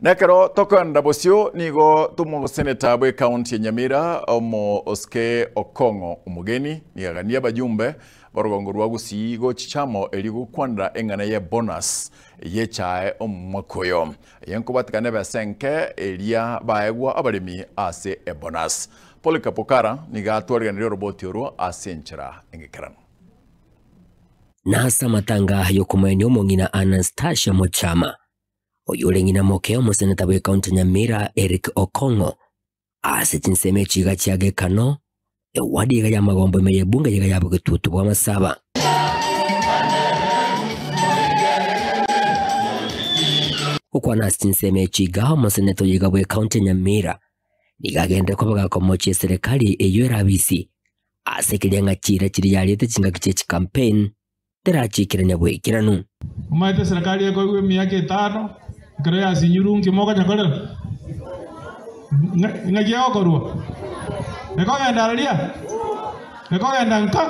Nekero tokoenda bosio nigo tomogoseneta bw'ekaunti ya Nyamira omoske Okong'o omogeni nigo aganie abayumbe b'orogongo rwa Gusii gochichamo erio gokwanera eng'ana ye bonus y'echae omwaka oyo eye nkobatikana ebesa enke eria baegwa abaremi ase ebonus. Polycarp Okara nigo atwarigeneria oroboti oro ase enchera engekeranu. Nase amatanga y'okomoenia omong'ina Anastasia Mochama. oyore ng'ina moke omoseneta bw'ekaunti ya Nyamira Eric Okong'o ase chinsemo echi iga chia Gekano, ewadi iga ya Magombo ime ya ebunge iga ya Bogetutu bwa Masaba. Gokwana ase chinsemo echi iga omoseneta oyo iga bw'ekaunti ya Nyamira nigo agenire koboga komochia eserekari eyio erabisi ase ekeria ng'a chiira chiria yariete chingaki chie chikampeni terachikire nyabwekeranu. Omaete eserekari ekoigwa emiaka etano, ekero yasinyiru inki mokonyekorera? Ng'a- Ng'aki egokorwa? Ekogenda araria? Ekogenda nka?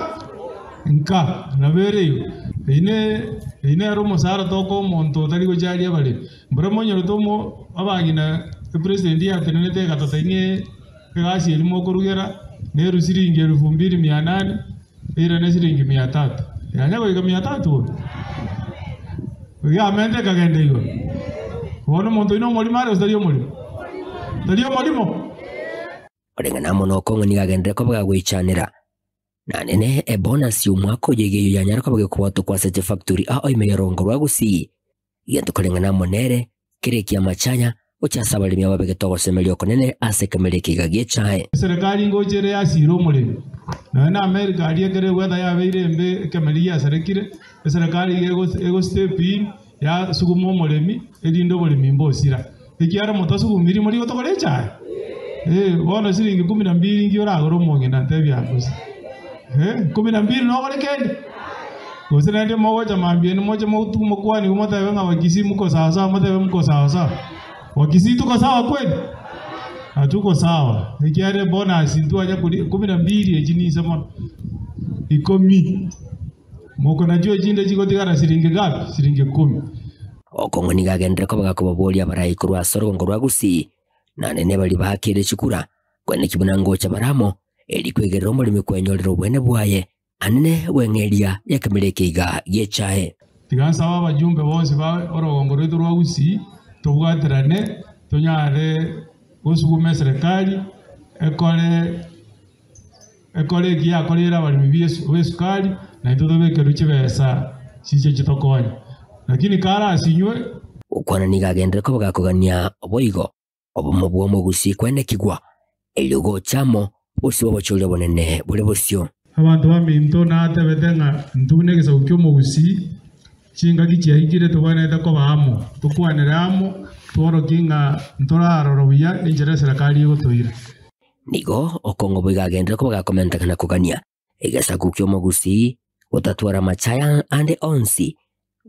Nka, nabo ere igo. Eyio ne, eyio nere omosara toka omonto otari gochia aria bare. Mboro monyorete omo, abagina epresident yatenenete egatotai ng'ee egasi eria mokorugera, neru siringi elufu mbiri mia nane, Ere ne siringi mia tatu. Yanya goika mia tatu oo. Egamentu ekagenda igoro. Bono omonto oino omorimo are gose tari omorimo? Tari omorimo? Koreng'ana amo nokong'u nigo agenderere koboga goichanera. Nanene ebonasi y'omwaka oyo iga eyio yanyare koboga ekobwatwa kwase chifactori ao ime yarongorwa gusii. Gento koreng'ana amo nere, kera eki'amachaya, gocha ase abaremi ababegete ogosemeria okonene ase ekemerero ekeiga gi'echae. Eserekari ngocha ere yasiire omoremi, nonya na Amerika aria ekero egweta yabeire embe ekemerero giasarekire, eserekari iga ego step in yasuguma omoremi erinde oboremi mbosira. Ekiagera motasuba omoiri morigo togore echae? Eh, bono siringi ikomi na mbiri inki oragore omong'ina? Ntebia aa gose. Eh, ikomi na mbiri nogore kende? Gose naende mogocha mambia ende moche motu- mokwanigwe motebe ng'a Wakisii muko sawa sawa, motebe muko sawa sawa. Wakisii tuko sawa kweli? Hatuko sawa. Ekiagera ebonus ntwanya koria ikomi na mbiri echi ninse mono. Ikomi. Moko na chio chinde chigotigara siringi gapi? Siringi ikomi. Okong'u nigo agenderire kobanga kobaboria abarai korwa ase orugongo rwa Gusii, na nene baria baakire chikura, kwene ki buna ngocha bare amo, eri kwegerera omoremi kwenyorere obweene bwaye, anene bw'eng'eria y'ekemeria eke iga giechae. Tiga nsabe abajumbe bonsi ba orugongo rwaito rwa Gusii, tobwaterane, tonyare gosuguma eserekari ekore. Ekore eki yakoreire abaremi b'esu- b'esukari, naintwe tobekerwe chibesa chiche chitokonye. Lakini karasinywe. Gokwana nigo agenderere kobega kogania boigo obomo bw'omogusii kwenekigwa, erio gocha amo bosio bw'obochooria obonene bore bosio. Abanto baminto natebete ng'a intwe negesaku ki'omogusii, chingaki chiaikire tobwenerete koba amo, tokwanere amo, tworokie ng'a ntorarora buya enchera eserekari egotoira. Nigo okong'u boigo agenderere koba gakomenteka na kogania egesaku ki'omogusi, gotatwara amache aya ande onsi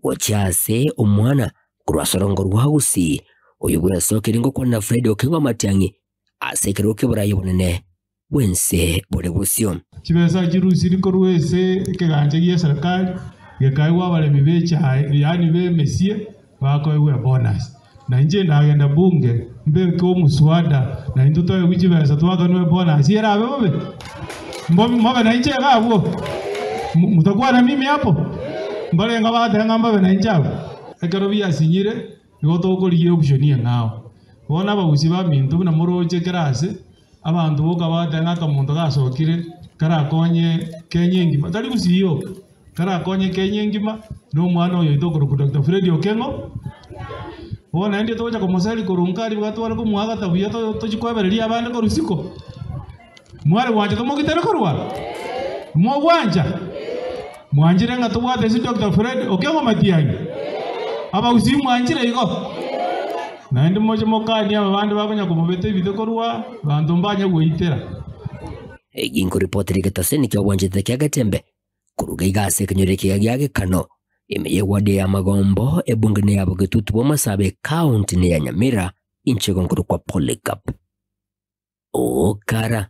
gochia ase omwana korwa ase orongo rwa ogusi. Oyio bw'ensoro keria ngokwanera Friday okeng'u amatiang'i ase ekerogo ki'oboraia obonene bw'ense bore bosio. Chibesa echi rusiri korwa ase ekegancha gie serikali gekaigwa abaremi be echae, yaani be emesie, Bakoegwa bonus. Na inche ndagenda bunge mbeke omoswada na intwe toegwe chibesa twakanwe bonus erabe bobe. Mbo mobe na inche iga abwo. M- Mutakwana mimi hapo. Mbore inga batenga mbabe na inche abwo. Ekero biasinyire nigo tokorigia option eng'ao. Bono abagusii baminto buna moroche class Abanto boka bagateba ng'a akamonto gasokire karakonye Kenya engima, tari gusiyioka, karakonye Kenya engima na omwana oyo oito okorokwa Doctor Fred Okengo. Bono naende togocha komoseri korwa Nkari iga tware komoagata buya to- tochi koebereria abande korwa isiko. Mware gwancha tomogitere korwa? Mogwancha? Mwanchire ng'a tobwate ase Doctor Fred Okengo Matiang'i? Abagusii mwanchire igo? Naende moche mokanie aba bande bakonya komobeta ebite korwa abanto mbanye goitera. Eki nkoripotera egetase nigo kiagwanchete kia getembe, koruga iga ase ekenyoro ekiya gia Gekano, ime ya ewadi eye ya Magombo, ebunge ne ya Bogetutu bwa Masabe, ekaunti ne ya Nyamira, inche igo nkorokwa Polycarp Okara.